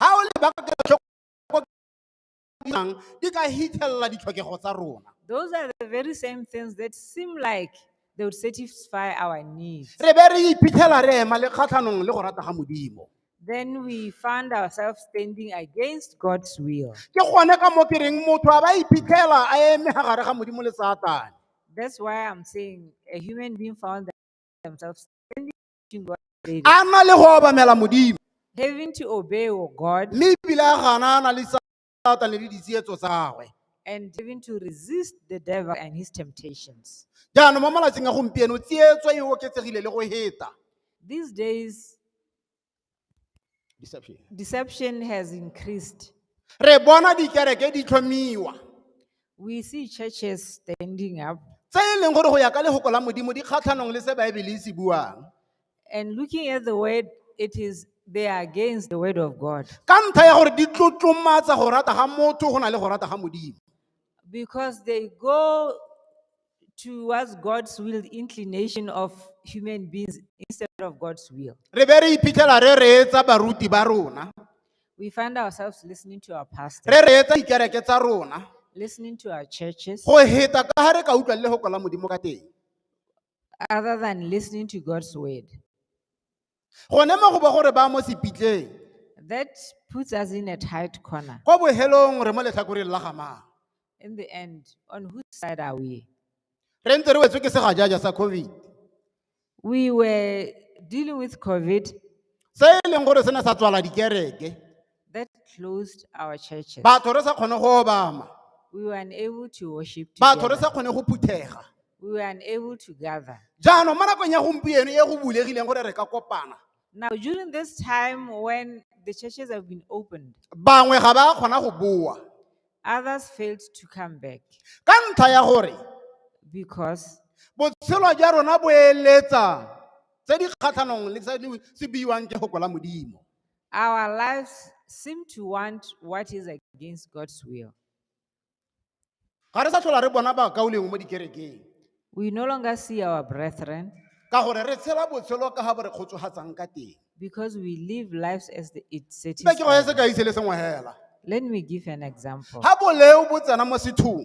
Ga o leba ka kelotlhoko dirang, di ka hitlhelela ditlhokego tsa rona. Those are the very same things that seem like they would satisfy our needs. Re be re iphitlhela re ema le kgatlhanong le go rata ga Modimo. Then we found ourselves standing against God's will. Ke gone ka mo ke reng motho a ba iphitlhela a eme ga gare ga Modimo le Satane. That's why I'm saying a human being found themselves standing rejecting what God said. a na le go obamela modimo Having to obey your God mme ebile a ganana le satane le ditsietso tsagwe and having to resist the devil and his temptations. jaanong mo malatsing a gompieno tsietso e oketsegile le go heta These days, Deception. Deception has increased. Re bona dikereke di tlhomiwa. We see churches standing up. Tse e leng gore go ya ka lehoko la Modimo di kgatlhanong le se Baebele e se buang. And looking at the word, it is they are against the word of God. Ka ntlha ya gore di tlotlomatsa go rata ga motho go na le go rata ga Modimo. Because they go towards God's will, the inclination of human beings instead of God's will. re be re iphitlhela re reetsa baruti ba rona We find ourselves listening to our pastor, re reetsa dikereke tsa rona listening to our churches, go heta ka ga re ka utlwa le go kola modimo ka teng other than listening to God's word. gone mo go ba gore ba mo sepitleng That puts us in a tight corner. kwa bohelong re mo letlhakoreng la gamang In the end, on whose side are we? re ntse re wetswe ke segajaja sa covid We were dealing with COVID, se e leng gore se ne sa tswala dikereke that closed our churches. batho re sa kgone go obama We were unable to worship batho re together. sa kgone go phuthega We were unable to gather. jaanong mo nakong ya gompieno e go bulegileng gore re ka kopana Now, during this time when the churches have been opened, bangwe ga ba kgona go boa others failed to come back ka ntlha ya gore because botshelo jwa rona bo eletsa tse di kgatlhanong le tse di se buiwang ke goko la modimo our lives seem to want what is against God's will. ga re sa tlhola re bona bakaulengwe mo dikerekeng We no longer see our brethren ka gore re tshela botshelo ka ga bo re kgotsogatsang ka teng because we live lives as the, it be ke go ye satisfies. sekai se le sengwe fela Let me give an example. ga boleo bo tsena mo sethong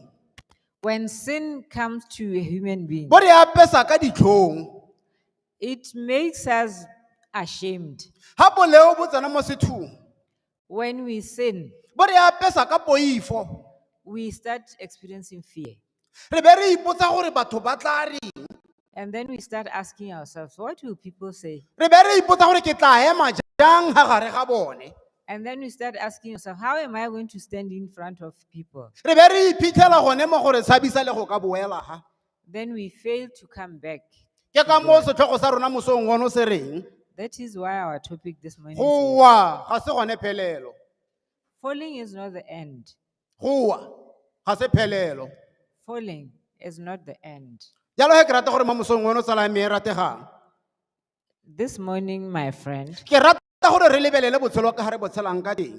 When sin comes to a human being, bo re apesa ka ditlhong It makes us ashamed ga boleo bo tsena mo sethong when we sin. bo re apesa ka poifo We start experiencing fear. re be re ipotsa gore batho ba tla re And then we start asking ourselves, what will people say? re be re ipotsa gore ke tla ema jang ga gare ga bone And then we start asking yourself, how am I going to stand in front of people? re be re iphitlhela gone mo gore tshabisa le go ka boela ga then we fail to come back. ke ka moo setlhogo sa rona mosong ono se reng That is why our topic this morning go is wa ga se gone phelelo falling is not the end. go wa ga se phelelo Falling is not the end. jalo ge ke rata gore mo mosong ono tsala ya me e rategang This morning, my friend, ke rata gore re lebelele botshelo ka ga re botshelang ka teng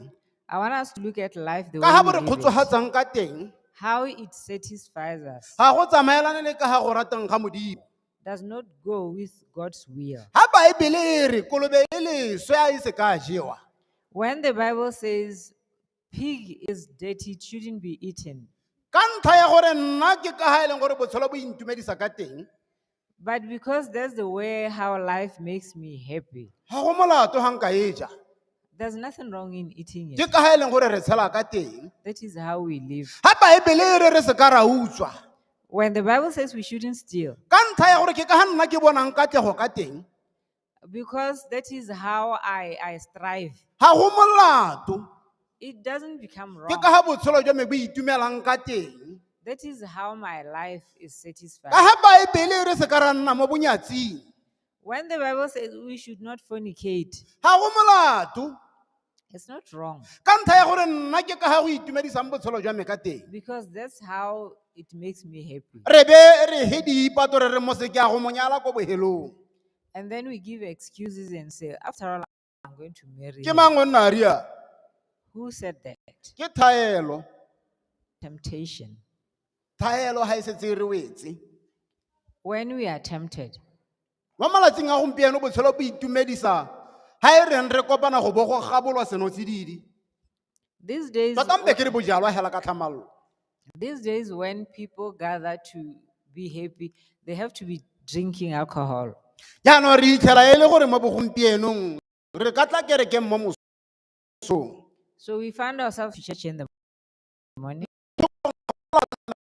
I want us to look at life the ka ga bo way re we live it, kgotsogatsang ka teng how it satisfies us. ga go tsamaelane le ka ga go ratang ga modimo Does not go with God's will. ga baebele e re kolobe e leswe a e se ka jewa When the Bible says Pig is dirty, it shouldn't be eaten. ka ntlha ya gore nna ke ka ga e leng gore botshelo bo intumedisa ka teng But because that's the way how life makes me happy, ga go molato ga nka e ja there's nothing wrong in eating ke it. ka ga e leng gore re tshela ka teng That is how we live. ga baebele e re re se ka ra utswa When the Bible says we shouldn't steal, ka ntlha ya gore ke ka ga nna ke bonang katlego ka teng Because that is how I, I strive. ga go molato It doesn't become ke wrong. ka ga botshelo jwa me bo itumelang ka teng That is how my life is satisfied. ka ga baebele e re se ka ra nna mo bonyatsing When the Bible says we should not fornicate, ga go molato It's not wrong ka ntlha ya gore nna ke ka ga go itumedisang botshelo jwa me ka teng because that's how it makes me happy. re be re he diipato re re mo seke a go mo nyala ko bohelong And then we give excuses and say, after all, I'm going to marry. ke him." mang o nna a rialo Who said that? ke thaelo Temptation. thaelo ga e setse e re wetse When we are tempted, Mo malatsing a gompieno botshelo bo itumedisa ha e reng re kopana go bo go gabolwa senotsididi. These days, Tota mpe ke re bojalwa hela ka tlhamallo. these days when people gather to be happy, they have to be drinking alcohol. Jaanong re itlhela e le gore mo bogompienong re ka tla kerekeng mo mosong. So we find ourselves to church in the morning.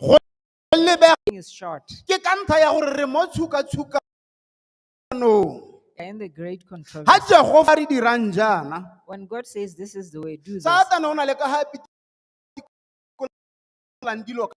go lebega is short. ke ka ntlha ya gore re mo tshukatshukanong In the great controversy, ga jehova re dirang jaana when God says this is the way, do this, satane o na le ka ga pitikolang dilo ka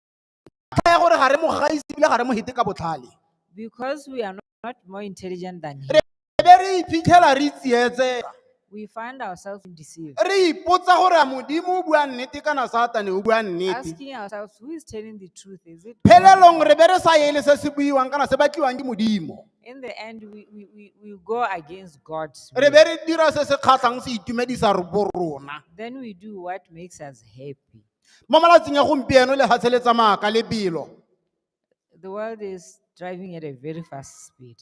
ntlha ya gore ga re mo gaise ebile ga re mo hete ka botlhale because we are not not more intelligent than him. re be re iphitlhela re tsietsega We find ourselves deceived, re ipotsa gore a modimo o bua nnete kana satane o bua nnete asking ourselves, who is telling the truth? Is it God? phelelong re be re sa ele se se buiwang kana se batliwang ke modimo In the end, we, we, we, we go against God's re will. be re dira se se kgatlhang se itumedisa re bo rona Then we do what makes us happy. mo malatsing a gompieno lefatshe le tsamaya ka lebelo The world is driving at a very fast speed.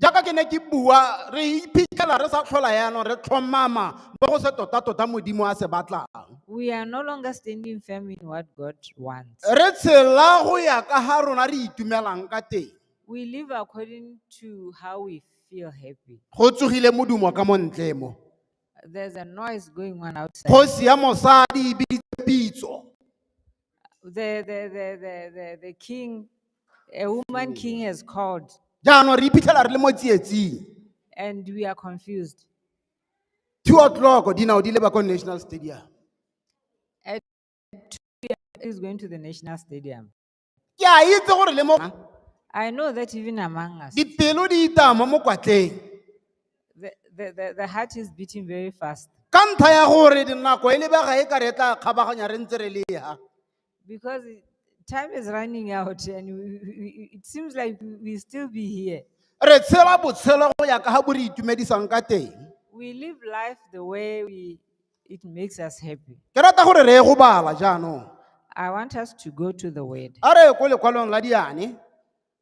jaaka ke ne ke bua re iphitlhela re sa tlhola yaanong re tlhomama mo go se tota-tota modimo a se batlang We are no longer standing firm in what God wants. re tshela go ya ka ga rona re itumelang ka teng We live according to how we feel happy. go tsogile modumo ka mo ntle mo There's a noise going on outside. kgosi ya mosadi e biditse pitso The, the, the, the, the, the king, a woman king has called jaanong re iphitlhela re le mo tsietsing and we are confused. two o'clock dinao di leba ko national stadium He's going to the national stadium. ke a itse gore le mo I know that even among us, dipelo di itama mo kwatleng The, the, the, the heart is beating very fast ka ntlha ya gore dinako e lebega e ka re e tla kgabaganya re ntse re le ha because it- time is running out and we, we, we- it seems like we- we still be here. re tshela botshelo go ya ka ga bo re itumedisang ka teng We live life the way we, it makes us happy. ke rata gore re ye go bala jaanong I want us to go to the word. a re ye ko lekwalong la diane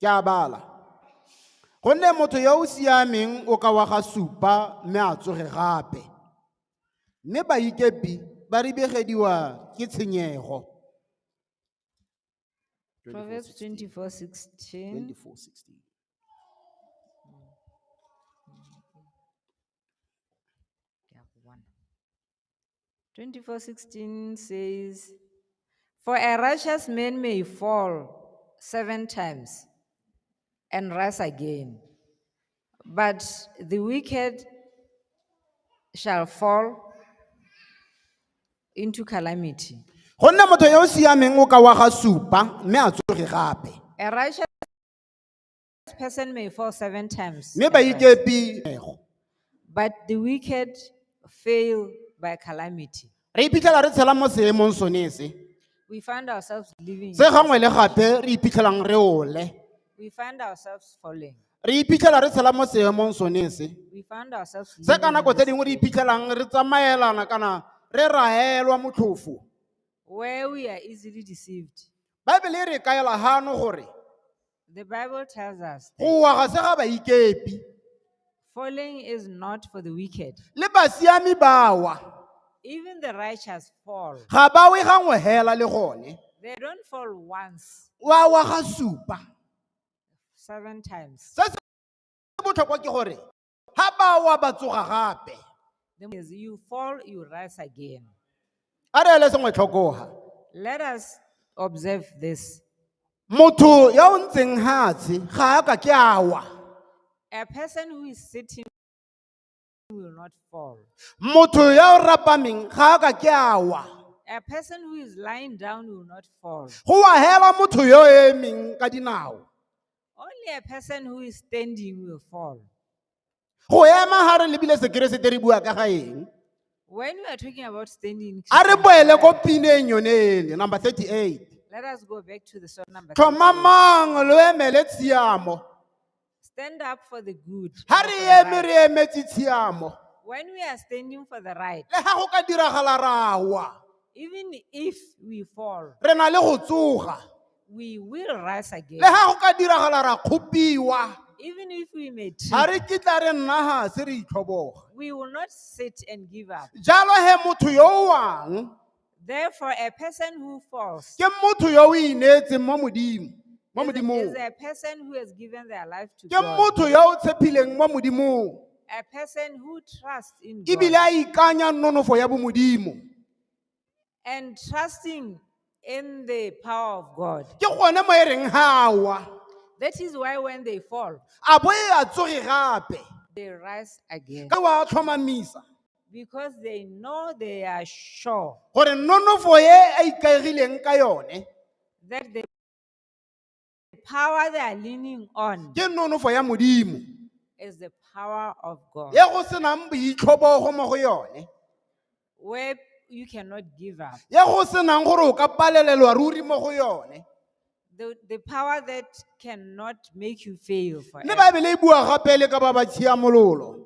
ke a bala gonne motho yo o siameng o ka wa ga supa mme a tsoge gape mme baikepi ba ribegediwa ke tshenyego Proverbs 24 16. 24:16. 24 16 says, For a righteous man may fall seven times and rise again, but the wicked shall fall into calamity. go nna motho yo o siameng o ka wa ga supa mme a tsoge gape A righteous This person may fall seven times. mme ba at rest, ikepi ego But the wicked fail by calamity. re iphitlhela re tshela mo seemong sone se We find ourselves living. se gangwe le gape re iphitlhelang re ole We find ourselves falling. re iphitlhela re tshela mo seemong sone se We find ourselves se living ka in nako tse this dingwe re state iphitlhelang re tsamaelana kana re raelwa motlhofo where we are easily deceived. baebele e re kaela gano gore The Bible tells us that go wa ga se ga baikepi falling is not for the wicked. le basiami ba wa Even the righteous fall. ga ba we gangwe hela le gone They don't fall once, wa wa ga supa seven times. se se botlhokwa ke gore ga ba wa ba tsoga gape That means you fall, you rise again. a re ele sengwe tlhokoga Let us observe this. motho ya o ntseng hatshe ga a ka ke a wa A person who is sitting will not fall. motho ya o rapameng ga a ka ke a wa A person who is lying down will not fall. go wahela motho yo o emeng ka dinao Only a person who is standing will fall. go ema ga re lebile sekeresete re bua ka ga eng When we are talking about standing, a re boele ko pineng yone ele number 38 let us go back to the song number. three. tlhomamang lo emele tshiamo Stand up for the good. ga not re for the eme right. re emetse tshiamo When we are standing for the right, le ga go ka diragala rawa even if we fall, re na le go tsoga We will rise again. le ga go ka diragala ra kgopiwa Even if we may trip, ga re kitla re nna ga se re itlhoboga we will not sit and give up. jalo he motho yo o wang Therefore, a person who falls ke motho yo o ineetseng mo modimo mo is, is modimong a person who has given their life to ke God, motho yo o tshepileng mo modimong a person who trusts in ebile God a ikanya nonofo ya bomodimo and trusting in the power of God. ke gone mo e reng ga wa That is why when they fall, a bo e a tsoge gape they rise again ka wa tlhomamisa because they know they are sure gore nonofo e a ikaegileng ka yone that the The power they are leaning on ke nonofo ya modimo is the power of God, e go senang boitlhobogo mo go yone where you cannot give up. e go senang gore o ka palelelwa ruri mo go yone The, the power that cannot make you fail mme forever. baebele e bua gape le ka ba ba tshiamololo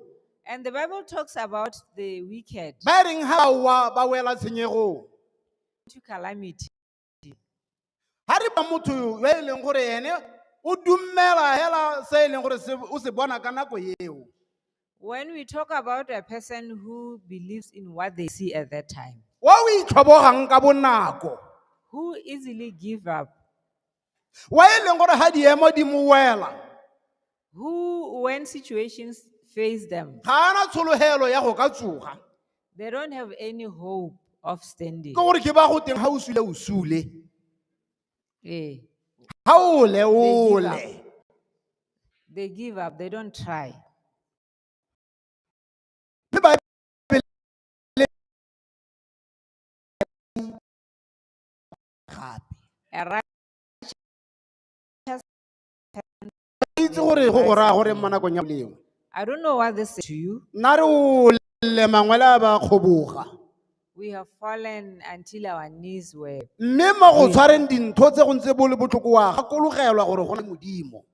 And the Bible talks about the wicked ba e reng ga wa ba wela tshenyegong to calamity. ga re ba motho yo e leng gore ene o dumela hela se e leng gore o se bona ka nako eo When we talk about a person who believes in what they see at that time, o o itlhobogang ka bonako who easily give up, wa e leng gore ga diemo di mo wela who, when situations face them, ga a na tshologelo ya go ka tsoga they don't have any hope of standing. ke gore ke ba go teng ga o sule o sule Eh, ga o le o They give le They give up, they don't try. Mme ba- gape A righteous itse gore go go raya gore mo nakong ya lengwe I don't know what this is to you. nna re o le mangwele a ba kgoboga We have fallen until our knees were. mme mo go tshwareng dintho tse go ntse bo le botlhoko wa gakologelwa gore go na le modimo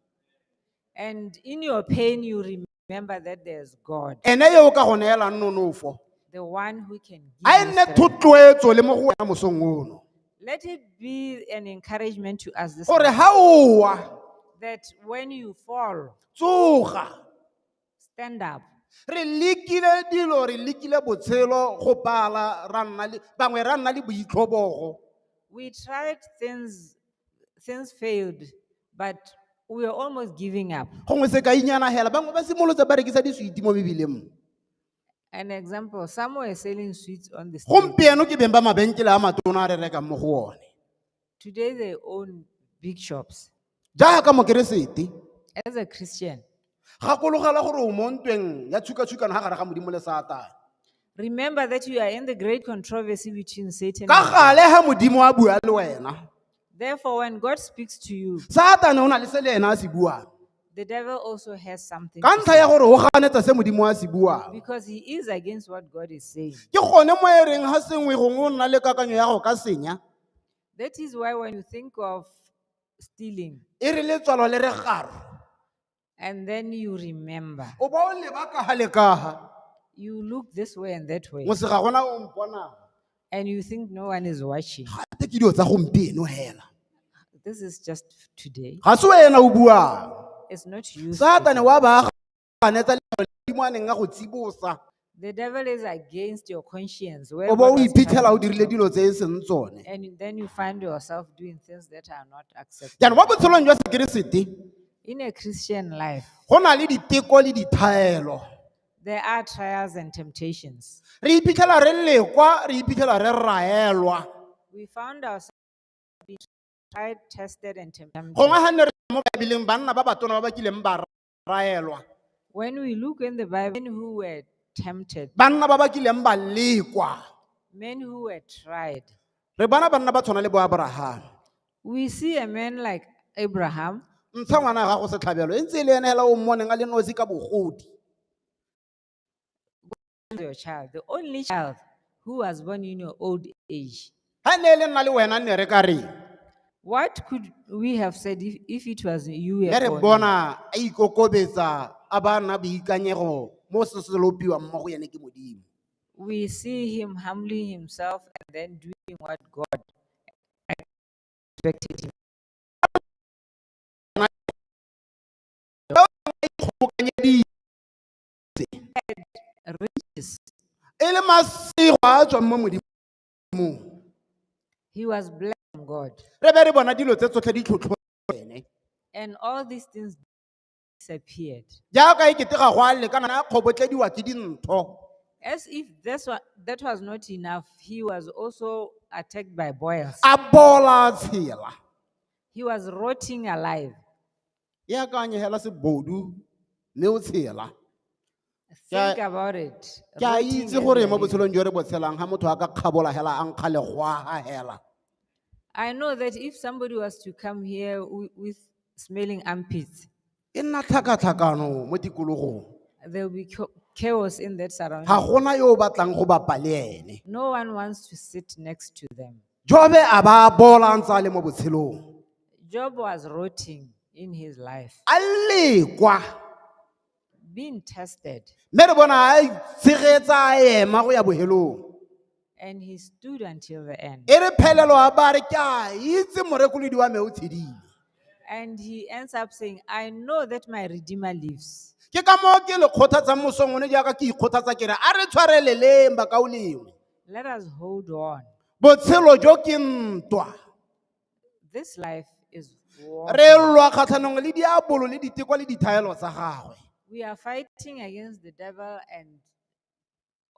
And in your pain, you remember. Remember that there's God, ene yo o ka go neelang nonofo the one who can a e give. you nne strength. thotloetso le mo go wena mosong ono Let it be an encouragement to us this gore morning ga o wa that when you fall, tsoga stand up. re lekile dilo re lekile botshelo go bala ra nna le bangwe ra nna le boitlhobogo We tried things, things failed. But we were almost giving up. gongwe sekainyana hela bangwe ba simolotse ba rekisa diswiti mo mebileng mo An example, some were selling sweets on the street. gompieno ke beng ba mabenkele a matona a re rekang mo go one Today they own big shops. jaaka mokeresete As a Christian, gakologela gore o mo ntweng ya tshukatshukano ga gare ga modimo le satane remember that you are in the great controversy between Satan ka and God. gale ga modimo a bua le wena Therefore, when God speaks to you, satane o na le se le ena a se buang the devil also has something ka to ntlha ya say gore o ganetsa se modimo a se buang because he is against what God is saying. ke gone mo e reng ga sengwe gongwe o nna le kakanyo ya go ka senya That is why when you think of stealing, e re letswalo le re garo And then you remember. o ba o leba kaha le kaha You look this way and that way. mose ga gona o mpona And you think no one is watching. gate ke dilo tsa gompieno hela This is just today. ga se wena o buang It's not you. satane wa baaganetsa letlalo ledimo a neng a go tsibosa The devil is against your conscience. where o bo God o has iphitlhela o permitted dirile dilo tse e seng tsone And you- then you find yourself doing things that are not acceptable. jaanong mo botshelong jwa sekeresete In a Christian life, go na le diteko le dithaelo there are trials and temptations. re iphitlhela re lekwa re iphitlhela re raelwa We found ourselves being tried, tested, and tempted. gongwe ga nne re mo baebeleng banna ba batona ba ba kileng ba ra raelwa When we look in the Bible, men who were tempted, banna ba ba kileng ba lekwa men who were tried, re bona banna ba tshwana le bo abrahama we see a man like Abraham ntsha ngwana wa gago setlhabelo e ntse e le ene hela o mmoneng a le nosi ka bogodi your child, the only child who was born in your old age. ha ne le nna le wena ne re ka reng What could we have said if, if it was you were ne re born? bona a ikokobetsa a ba na boikanyego mo se se lopiwang mo go ene ke modimo We see him humbling himself and then doing what God expected him. e le masego a a tswang mo modimong He was blessed from God. re be re bona dilo tse tsotlhe di tlhotlho ene And all these things disappeared. jaaka e kete ga go a lekana a kgobotlediwa ke dintho As if this wa- that was not enough, he was also attacked by boils. a bola a tshela He was rotting alive. e akanye hela sebodu mme o tshela Ke a- Think about it. ke a Rooting itse and gore mo releasing. botshelong jo re bo tshelang ga motho a ka kgabola hela a nkga legwaga hela I know that if somebody was to come here wi- with smelling armpits, e nna tlhakatlhakano mo tikologong there will be cha- chaos in that surrounding. ga gona yo o batlang go bapa le ene No one wants to sit next to them. jobe a ba bola a ntse a le mo botshelong Job was rotting in his life, a lekwa being tested, mme re bona a itshegetsa a ema go ya bohelong and he stood until the end. e re phelelo a ba re ke a itse morekolodi wa me o tshedile And he ends up saying, I know that my Redeemer lives. ke ka moo ke le kgothatsang mosong one jaaka ke ikgothatsa kere a re tshwareleleng bakao lengwe Let us hold on. botshelo jo ke ntwa This life is war. re lwa kgatlhanong le diabolo le diteko le dithaelo tsa gagwe We are fighting against the devil and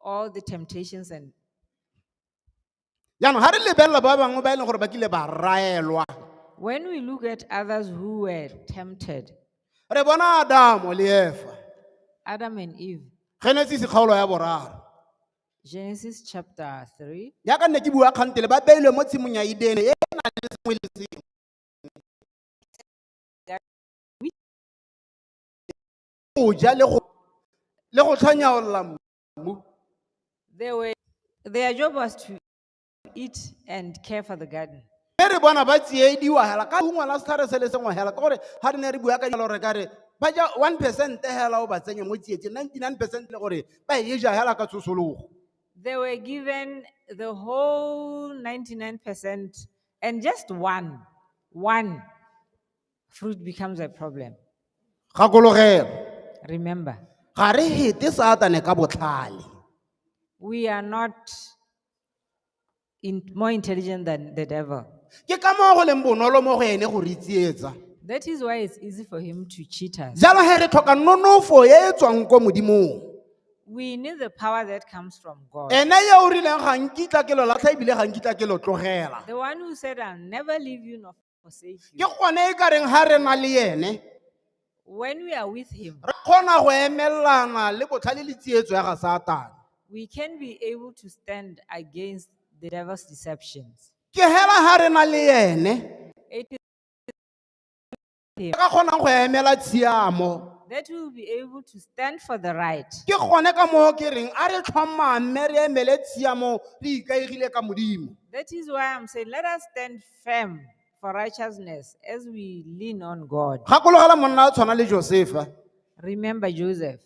all the temptations and jaanong ga re lebelela ba bangwe ba e leng gore ba kile ba raelwa when we look at others who were tempted, re bona adamo le efa Adam and Eve, genesise kgaolo ya boraro Genesis chapter 3, yaka nne ke bua kgantele ba beilwe mo tshimong ya edene e e nang le sengwe le sengwe go ja le go le go tlhanyaolola mmu there were their job was to eat and care for the garden. mme re bona ba tsiediwa hela ka ungwa la setlhare se le sengwe hela ka gore ga re ne re bua ka jalo re ka re ba ja one percent hela o ba tsenye mo tsietseng ninety nine percent le gore ba e ja hela ka tsosologo They were given the whole 99% and just one, one fruit becomes a problem. gakologelo Remember, ga re hete satane ka botlhale we are not in, more intelligent than the devil. ke ka moo go leng bonolo mo go ene go re tsietsa That is why it's easy for him to cheat us. jalo ge re tlhoka nonofo e e tswang ko modimong We need the power that comes from God. ene ye o rileng ga nkitla ke lo latlha ebile ga nkitla ke lo tlogela The one who said, I'll never leave you nor or save ke you. gone e ka reng ga re na le ene When we are with Him, re kgona go emelelana le botlhale le tsietso ya ga satane we can be able to stand against the devil's deceptions. ke hela ga re na le ene It is re ka kgonang go emela tshiamo that we will be able to stand for the right. ke gone ka moo ke reng a re tlhomame re emele tshiamo re ikaegile ka modimo That is why I'm saying, let us stand firm for righteousness as we lean on God. gakologela monna a tshwana le josefa Remember Joseph,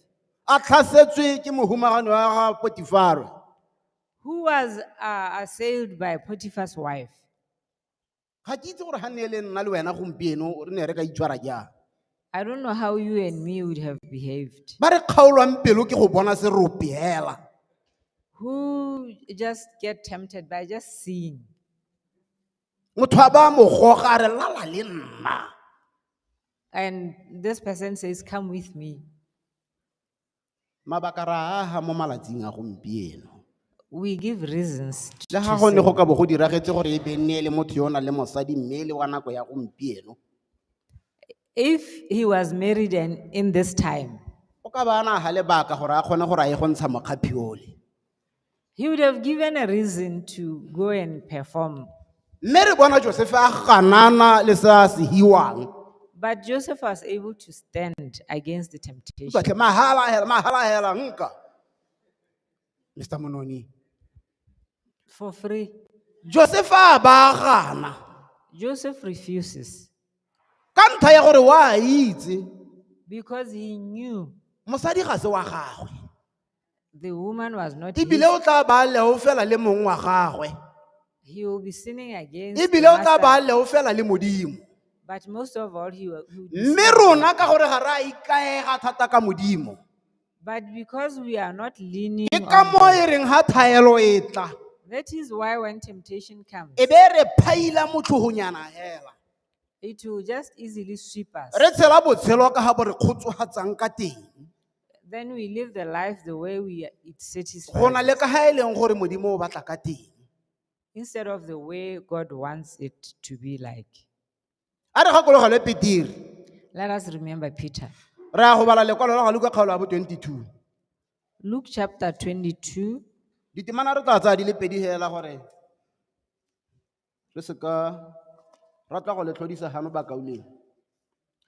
a tlhasetswe ke mohumagano wa ga potifaro who was uh, assailed by Potiphar's wife. ga ke itse gore ga ne e le nna le wena gompieno re ne re ka itshwara jang I don't know how you and me would have behaved. ba re kgaolwang pelo ke go bona se rope hela Who just get tempted by just seeing. motho a ba mo goga a re lala le nna And this person says, Come with me. Mabaka re a aga mo malatsing a gompieno. We give reasons t- Le to ga go ne say. go ka bo go diragetse gore e be nne e le motho yo o nang le mosadi mme e le wa nako ya gompieno, If he was married and in this time, o ka ba a na ga lebaka gore a kgone gore a ye go ntsha mokgaphi ole. He would have given a reason to go and perform. Mme re bona Josefe a ganana le se a se hiwang. But Joseph was able to stand against the temptation. Utlwatlhe mahala hela, mahala hela nka. Mr. Mononi. For free. Josefe a ba gana. Joseph refuses Ka ntlha ya gore wa itse because he knew mosadi ga se wa gagwe. The woman was not ebile his. o tla ba leo fela le mong wa gagwe He will be sinning against the ebile o tla ba master. leo fela le modimo But most of all, he will. he will be mme sinning. rona ka gore ga re a ikaega thata ka modimo But because we are not leaning ke ka on mo God, e reng ga thaelo e tla that is why when temptation comes, e be e re phaila motlhogonyana fela it will just easily sweep us. re tshela botshelo ka ga bo re kgotsogatsang ka teng Then we live the life the way we are, it satisfies. go na le ka ga e leng gore modimo o batla ka teng instead of the way God wants it to be like. a re gakologelwe peteri Let us remember Peter. re ya go bala lekwalo la ga luka kgaolo ya bo 22 Luke chapter 22, ditemana re tla tsaya di le pedi fela gore re se ka ra tla go le tlhodisa gano bakauleng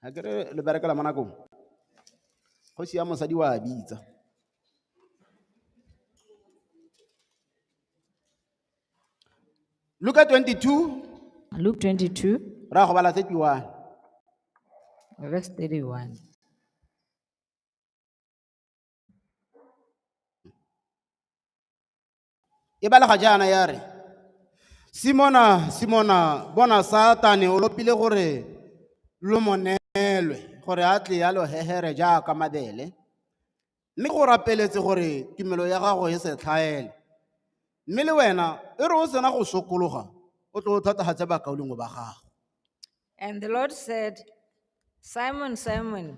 ga ke re le berekela mo nakong kgosi ya mosadi wa bitsa luka 22 Luke 22, ra go bala tse tiwang verse 31. e balega jaana ya re simona simona bona satane o lopile gore lo monelwe gore a tle ya lo hehere jaaka mabele mme go rapeletse gore tumelo ya gago e se tlhaele mme le wena e re o sena go sokologa o tlo thatagatse bakaulengwe ba gago And the Lord said, Simon, Simon,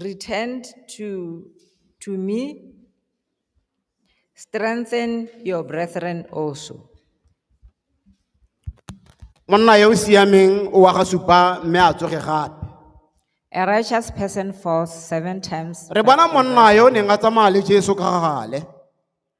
returned to, to me, strengthen your brethren also. monna yo o siameng o wa ga supa mme a tsoge gape A righteous person falls seven times. re but bona monna yo o neng a tsamaya le jesu ka gale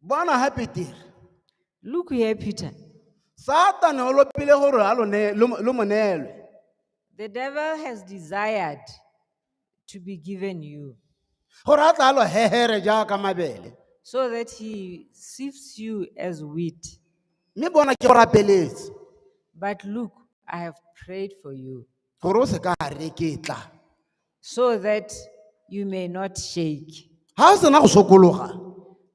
bona gape tere Look here, Peter. satane o lopile gore a lo ne- lo mo- lo mo neelwe The devil has desired to be given you gore a tla a lo hegere jaaka mabele so that he sifts you as wheat. mme bona ke go rapeletse But look, I have prayed for you gore o se ka a reketla so that you may not shake. ga o sena go sokologa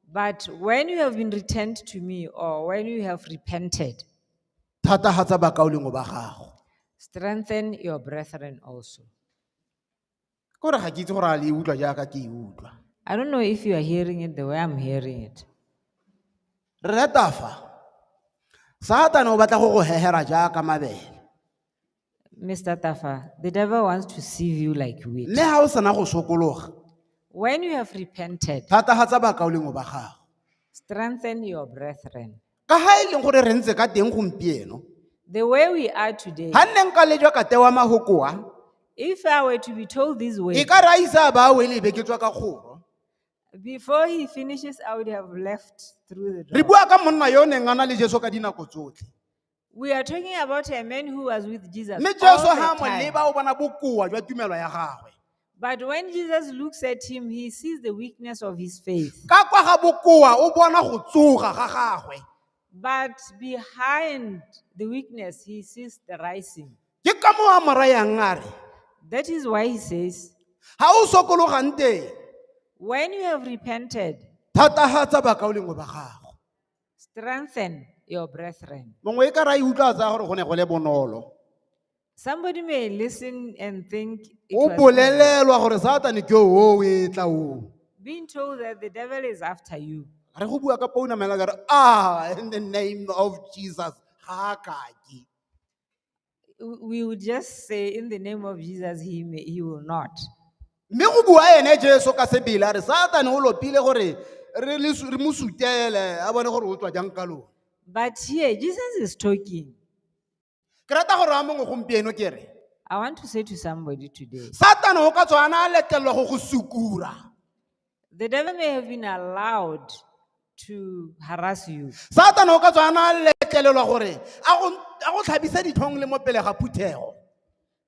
But when you have been returned to me, or when you have repented, thatagatsa bakaolengwe ba gago strengthen your brethren also. ke gore ga ke itse gore a le e utlwa jaaka ke e utlwa I don't know if you are hearing it the way I'm hearing it. re retafa satane o batla go go hehera jaaka mabele Mr. Tafa, the devil wants to sieve you like wheat. mme ga o sena go sokologa When you have repented, thatagatsa bakaolengo ba gago strengthen your brethren. ka ga e leng gore re ntse ka teng gompieno The way we are today, ga nne nka le jwa ka tewa magokoa if I were to be told these e words, ka re a isa a ba a wele e be ke tswa ka kgoro before he finishes, I would have left through the re door. bua ka monna yo o neng a na le jeso ka dinako tsotlhe We are talking about a man who was with Jesus. mme jesu all ga a the mo time. leba o bona bokoa jwa tumelo ya gagwe But when Jesus looks at him, he sees the weakness of his faith. ka kwa ga bokoa o bona go tsoga ga gagwe But behind the weakness, he sees the rising. ke ka moo a mo rayang a re That is why he says, ga o sokologang teng When you have repented, thatagatsa bakaolengwe ba gago Strengthen your brethren. mongwe e ka ra e utlwa a tsaya gore go ne go le bonolo Somebody may listen and think it o was easy. bolelelwa gore satane ke o e tla o being told that the devil is after you. re go bua ka pounamela ka re ah in the name of jesus ga a kake we would just say, in the name of Jesus, he, may, he will not. mme go bua ene jesu ka sebila re satane o lopile gore re le su- re mo sutele a bone gore o tswa jang ka lone But here, Jesus is talking. ke rata gore wa mongwe gompieno ke re I want to say to somebody today satane o ka tswana a letlelelwa go go sukura The devil may have been allowed to harass you. satana o ka tswa a na a letlelelwa gore a go a go tlhabise ditlhong le mo pele ga phuthego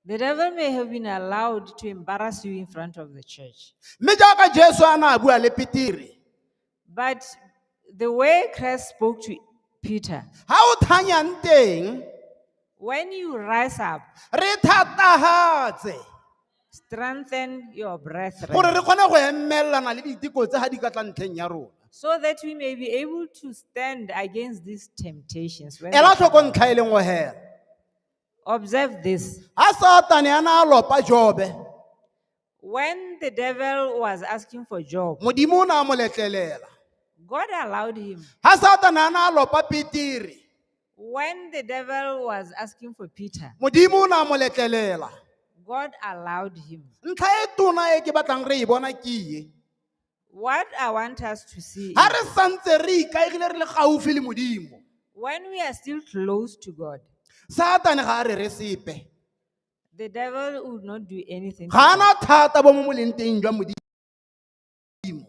The devil may have been allowed to embarrass you in front of the church. mme jaaka jesu a na a bua le petire But The way Christ spoke to Peter, ha o thanyang teng when you rise up, re thatagatse strengthen your brethren gore re kgone go emelelana le diteko tse ga di ka tla ntlheng ya rona so that we may be able to stand against these temptations. when they ela tlhoko come. ntlha e leng hela Observe this. ha satane a na a lopa jobe When the devil was asking for Job, modimo o ne a mo letlelela God allowed him. ga satana a ne a lopa petere When the devil was asking for Peter, modimo o ne a mo letlelela God allowed him. ntlha e tona e ke batlang re e bona ke ye What I want us to see ga is re santse re ikaegile re le gaufi le modimo when we are still close to God, satane ga a re re sepe The devil would not do anything. to ga a na us. thata bo mo moleng teng jwa modimo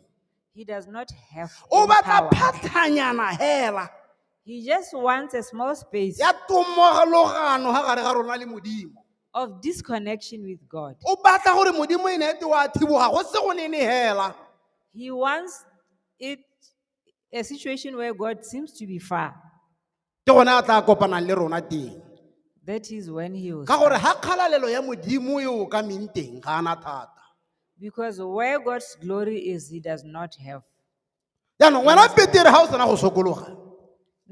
He does not have o any batla power. phatlhanyana hela He just wants a small space ya tomogologano ga gare ga rona le modimo of disconnection with God. o batla gore modimo e ne ete wa thiboga go se go nene hela He wants it a situation where God seems to be far. ke gone a tla kopanang le rona teng That is when he will. ka gore ga kgalalelo ya modimo e o ka meng teng ga ana thata Because where God's glory is, he does not have. jaanong wena petere ga o sena go sokologa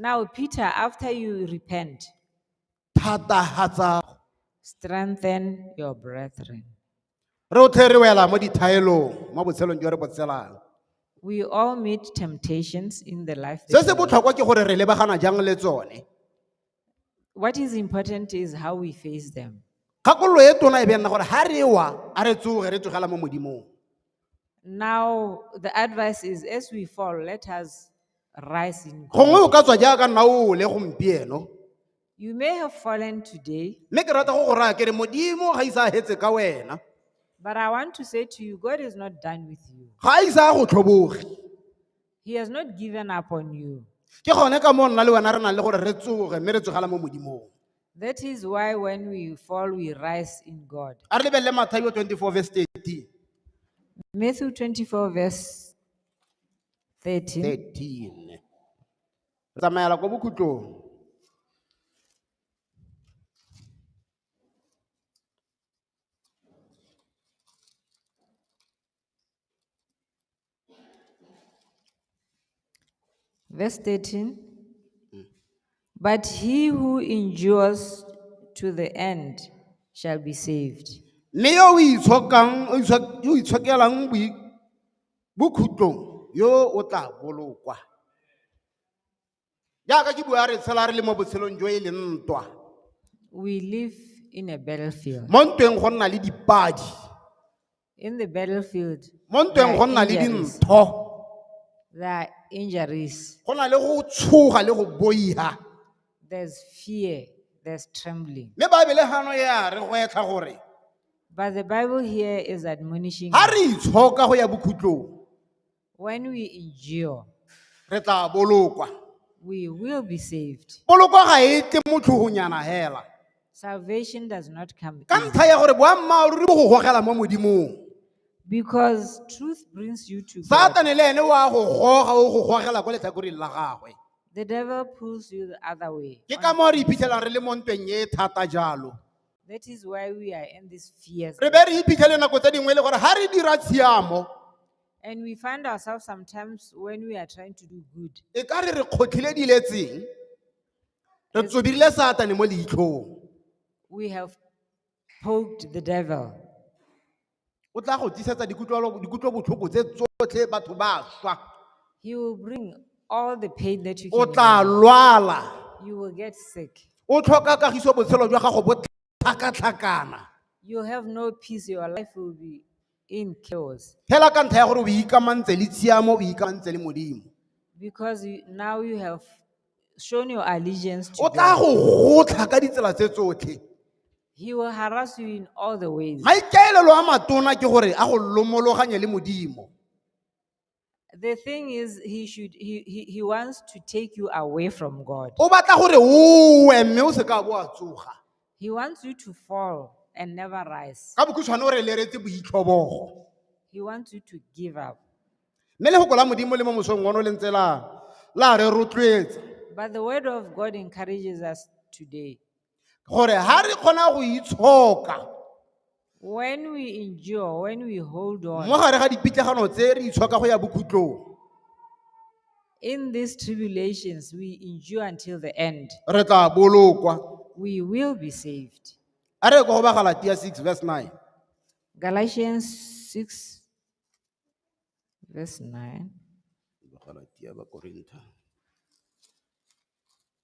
Now, Peter, after you repent, thatagatsa strengthen your brethren. Re otlhe re wela mo dithaelong mo botshelong jo re bo tshelang. We all meet temptations in the life. Se that se we live. botlhokwa ke gore re lebagana jang le tsone. What is important is how we face them. Kgakololo e tona e be nna gore ha re wa a re tsoge re tsogela mo modimong. Now, the advice is as we fall, let us rise in Gongwe o God. ka tswa jaaka nna ole gompieno. You may have fallen today, mme ke rata go go raya kere modimo ga isa a hetse ka wena but I want to say to you, God is not done with you. ga a isa a go tlhoboge He has not given up on you. ke gone ka moo nna le wena re nang le gore re tsoge mme re tsogela mo modimong That is why when we fall, we rise in God. a re lebelele mathaio 24 verse 13 Matthew 24, verse 13. 13 re tsamaela ko bokhutlong Verse 13. But he who endures to the end shall be saved. mme yo o itshokang o itshok- yo o itshokelang boi- bokhutlong yo o tla bolokwa. Jaaka ke bua re tshela re le mo botshelong jo e leng ntwa. We live in a battlefield. Mo ntweng go nna le dipadi. In the battlefield, Mo there ntweng go are nna le injuries. dintho. There are injuries. Go na le go tshoga le go boiha. There's fear, there's trembling. mme baebele gano e a re gwetlha gore But the Bible here is admonishing ga us, re itshoka go ya bokhutlong when we endure, re tla bolokwa we will be saved. poloko ga e tle mo tlhogonyana hela Salvation does not come ka easy ntlha ya gore boammaaruri bo go gogela mo modimong because truth brings you to God. satane le ene wa go goga o go gogela ko letlhakoreng la gagwe The devil pulls you the other way. ke ka moo re iphitlhelang re le mo ntweng e thata jalo That is why we are in these fears. re be re iphitlhele nako tse dingwe e le gore ga re dira tshiamo And we find ourselves sometimes when we are trying to do good, e ka re re kgotlhile diletseng re tsobirile satane mo leitlhong we have poked the devil. O tla go tlisetsa dikutlwelo- dikutlobotlhoko tse tsotlhe batho ba swa. He will bring all the pain that you O can. tla imagine. lwala. You will get sick. O tlhoka kagiso botshelo jwa gago bo tlhakatlhakana. You have no peace. Your life will be in chaos Hela ka ntlha ya gore o ikamantse le tshiamo, o ikamantse le Modimo. because you, now you have shown your allegiance to O tla God. go gotlha ka ditsela tse tsotlhe. He will harass you in all the ways. maikaelelo a matona ke gore a go lomologanye le modimo The thing is, he should he, he, he wants to take you away from God. o batla gore o we mme o se ka bo a tsoga He wants you to fall and never rise. ka bokhutshwane o re leretse boitlhobogo He wants you to give up. mme lefoko la modimo le mo mosong ono le ntse la la re rotloetsa But the word of God encourages us today. gore ha re kgona go itshoka When we endure, when we hold mo on gare ga dipitlagano tse re itshoka go ya bokhutlong in these tribulations, we endure until the end. re tla bolokwa We will be saved. a re ko go ba galatia 6 verse 9 Galatians 6, verse 9. Galatia ba Korintha.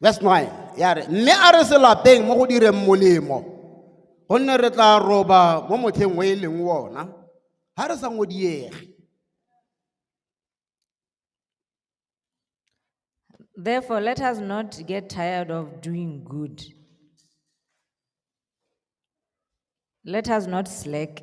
verse 9 ya re mme a re selapeng mo go direng molemo gonne re tla roba mo motlheng o e leng wona ga re sa ngodiege Therefore, let us not get tired of doing good. Let us not slack.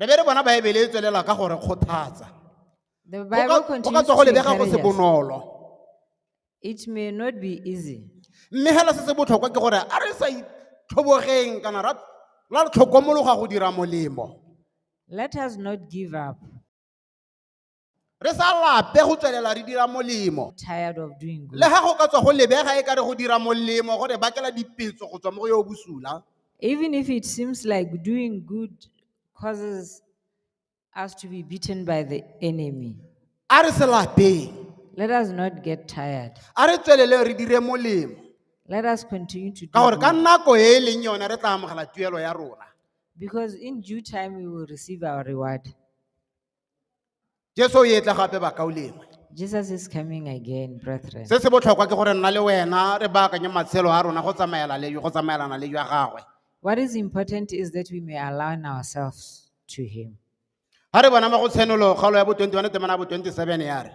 re be re bona baebele e tswelela ka gore kgothatsa The Go ka- Bible go ka continues tswa go to lebega go encourage se us. bonolo It may not be easy. mme fela se se botlhokwa ke gore a re sa itlhobogeng kana ra la re tlhokomologa go dira molemo Let us not give up. re sa lape go tswelela re dira molemo tired of doing good. le ga go ka tswa go lebega e ka re go dira molemo go re bakela dipetso go tswa mo go yo o bosula Even if it seems like doing good causes us to be beaten by the enemy, a re se lapeng let us not get tired. a re tswelele re dire molemo Let us continue to do ka gore ka good, nako e e leng yone re tla amogela tuelo ya rona because in due time we will receive our reward. jesu o etla gape bakao lengwe Jesus is coming again, brethren. se se botlhokwa ke gore nna le wena re baakanye matshelo a rona go tsamaela le go tsamaelana le jwa gagwe What is important is that we may align ourselves to Him. ga re bona mo go tshenolo kgaolo ya bo 21 temana ya bo 27 ya re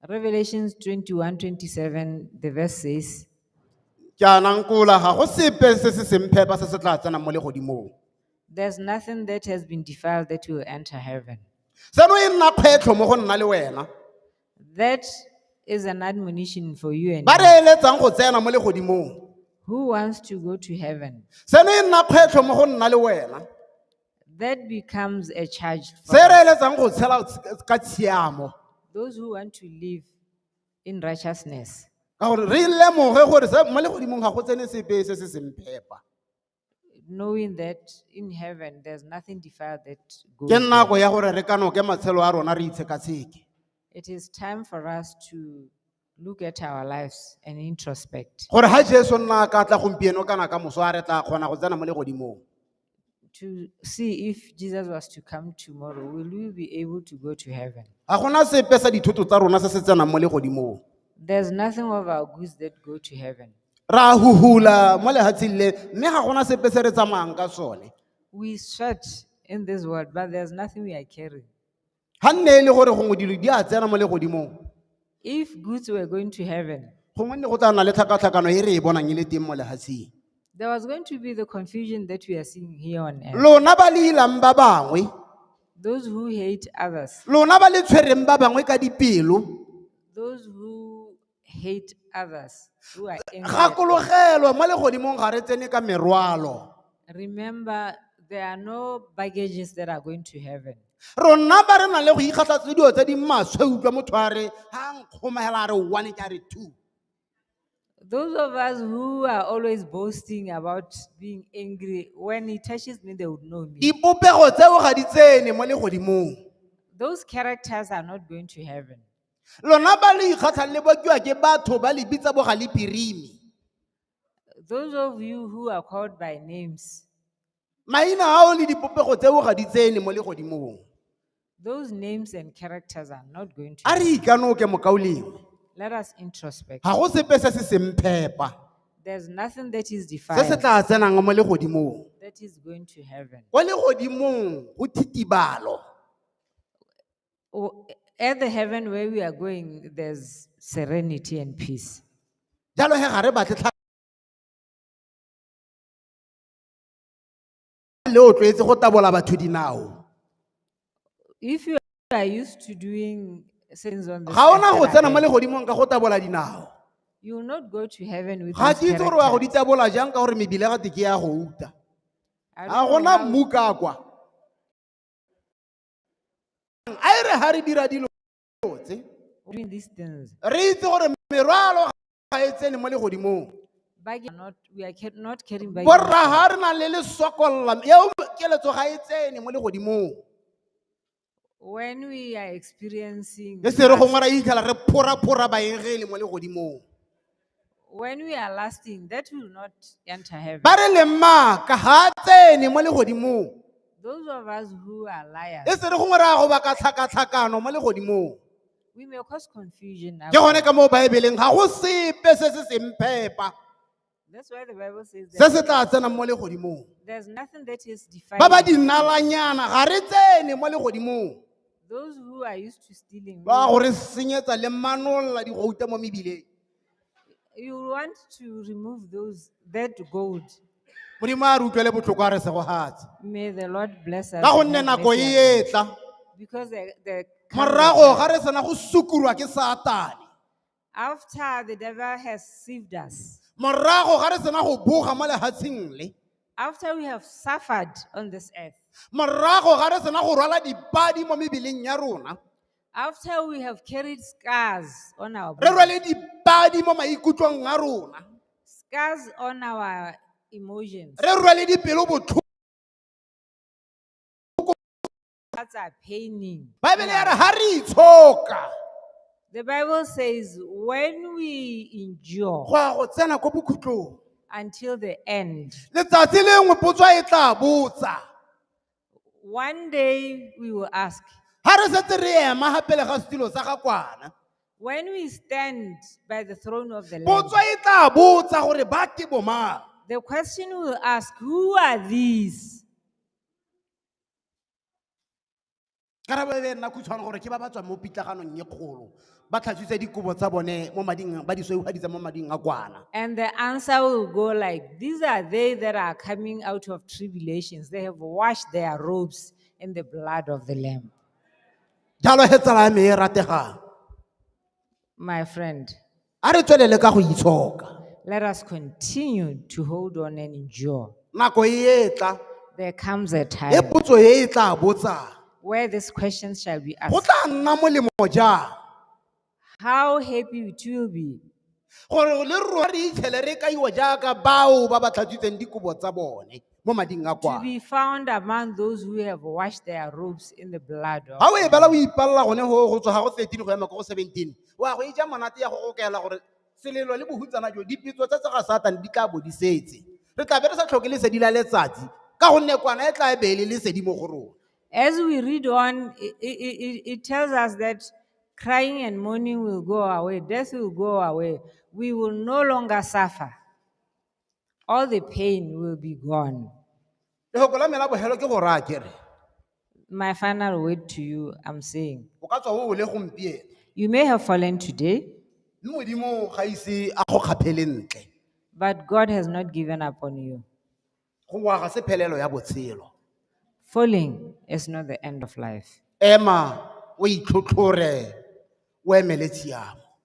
Revelations 21 27, the verse says, jaanang kola ga go sepe se se semphepa se se tla tsenang mo legodimong There's nothing that has been defiled that will enter heaven. Seno e nna kgwetlho mo go nna le wena. That is an admonition for you and Ba me. re eletsang go tsena mo legodimong. Who wants to go to heaven? Seno e nna kgwetlho mo go nna le wena. That becomes a charge for Se re eletsang go tshela tsh- ka tshiamo. those who want to live in righteousness. Ka gore re lemoge gore se- mo legodimong ga go tsene sepe se se seng phepa. knowing that in heaven there's nothing defiled that goes. ke nako there. ya gore re kanoke matshelo a rona re itshekatsheke It is time for us to look at our lives and introspect. gore ga jesu nna a ka tla gompieno kana ka moso a re tla kgona go tsena mo legodimong to see if Jesus was to come tomorrow, will we be able to go to heaven? ga gona sepe sa dithoto tsa rona se se tsenang mo legodimong There's nothing of our goods that go to heaven. Re a huhula mo lehatsheng le, mme ga gona sepe se re tsamayang ka sone. We sweat in this world, but there's nothing we are carrying. Ga nne e le gore gongwe dilo di a tsena mo legodimong, If goods were going to heaven, gongwe ne go tla nna le tlhakatlhakano e re e bonang e le teng mo lehatsheng. there was going to be the confusion that we are seeing here on earth. Lona ba le ilang ba bangwe, Those who hate others, lona ba le tshwereng ba bangwe ka dipelo, those who hate others who are angry. at us. gakologelwa mo legodimong ga re tsene ka merwalo Remember, there are no baggages that are going to heaven. rona ba re na le go ikgatlha tse dilo tse di maswe utlwa motho a re ga nkgomogela a re one ke a re two Those of us who are always boasting about being angry, when he touches me, they would know me. dipopego tseo ga di tsene mo legodimong Those characters are not going to heaven. lona ba le ikgatlhang le bokiwa ke batho ba le bitsa bogalipirimi Those of you who are called by names, maina ao le dipopego tseo ga di tsene mo legodimong those names and characters are not going to. a re ikanoke mokaolengwe Let us introspect. ga go sepe se se semphepa There's nothing that is se se defiled tla tsenang mo legodimong that is going to heaven. kwa legodimong go thitibalo o- at the heaven where we are going, there's serenity and peace. jalo he ga re batle tlha le o tlwaetse go tabola batho dinao If you are used to doing things on the ga ona go tsena mo legodimong ka go tabola dinao you will not go to heaven with ga those ke itse gore wa go di characters. tabola jang ka gore mebile ga te ke ya go uta I ga don't know gona how- mmu ka kwa a e re ga re dira dilo tse re itse gore merwalo ga e tsene mo legodimong borra ga re na le le sokolla eo keletso ga e tsene mo legodimong when we are experiencing e se re gongwe ra itlhela re phora-phora baengele mo legodimong When we are lasting, that will not enter heaven. ba re le maaka ga a tsene mo legodimong Those of us who are liars, e se re gongwe ra go baka tlhakatlhakano mo legodimong we may cause confusion. ke gone ka mo baebeleng ga go sepe se se seng phepa That's why the Bible says se that se tla tsenang mo legodimong there's nothing that is ba ba defined. dinalanyana ga re tsene mo legodimong Those who are used to stealing, ba gore senyetsa le manolla digouta mo mebileng you want to remove those that gold. modimo a re utlwele botlhoko a re segogatse May the Lord bless us. ka and gonne have nako mercy e on us. etla Because the, the morago ga re sena go sukurwa ke satane After the devil has saved us, morago ga re sena go boga mo lehatsheng le after we have suffered on this earth, morago ga re sena go rwala dipadi mo mebeleng ya rona after we have carried scars on our re body, rwale dipadi mo maikutlong a rona scars on our emotions, re rwale dipelo botlhoko That's our painting. baebele ya re ga re itshoka The Bible says when we go endure ya go tsena ko bokhutlong until the end, letsatsi lengwe potso e tla botsa one day we will ask, ga re setse re ema ga pele ga setilo sa ga kwana when we stand by the throne of the Lamb, potso e tla botsa gore ba ke bomang the question will ask, who are these? karabo e be nna khutshwane gore ke ba ba tswang mo pitlaganong e kgolo ba tlhatswitse dikobo tsa bone mo mading ba di sweugaditsa mo mading a kwana And the answer will go like, these are they that are coming out of tribulations. They have washed their robes in the blood of the Lamb. jalo he tsala ya me e rategang My friend, A re tswelele ka go itshoka. Let us continue to hold on and endure. Nako e e tla, There comes a e time potso e e tla botsang. where these questions shall be Go asked. tla nna molemo jang How happy it will be gore le rona re itshele re kaiwa jaaka bao ba ba tlhatswitseng dikobo tsa bone mo mading a to kwana. be found among those who have washed their robes in the blood of. Ga o e bala o ipalela gone go go tswa ga go 13 go ya mako go 17. o a go e ja monate ya go gokela gore selelo le bohutsana jo dipitso tsa tsa ga satane di tla bo di setse re tla be re sa tlhoke lesedi la letsatsi ka gonne kwana e tla e beele lesedi mo go rona As we read on, it, it, it tells us that crying and mourning will go away, death will go away. We will no longer suffer. all the pain will be gone. lefoko la me la bogelo ke go raya kere My final word to you, I'm saying, o ka tswa o wele gompieno you may have fallen today, mme modimo ga ise a go kgaphele ntle but God has not given up on you. go wa ga se phelelo ya botshelo Falling is not the end of life. ema o itlhotlhore o emele tshiamo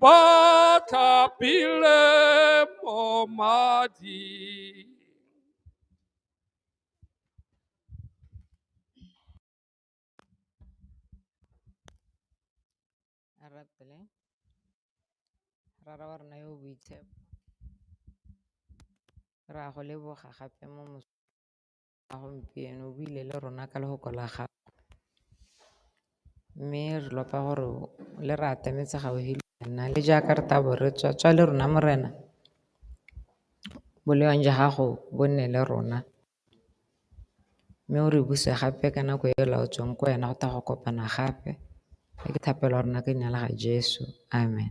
bathapile mo mading. Rapele, rara wa rona yo o boitshepo, ra go leboga gape mo mos- A gompieno o buile le rona ka lehoko la gago, mme re lopa gore le re atametse gaufi le wena le jaaka re tabo re tswa tswa le rona Morena, bolewang jwa gago bo nne le rona. Mme o re buse gape ka nako e laotsweng ko wena go tla go kopana gape, e ke thapelo ya rona ka leina la ga Jesu, amen.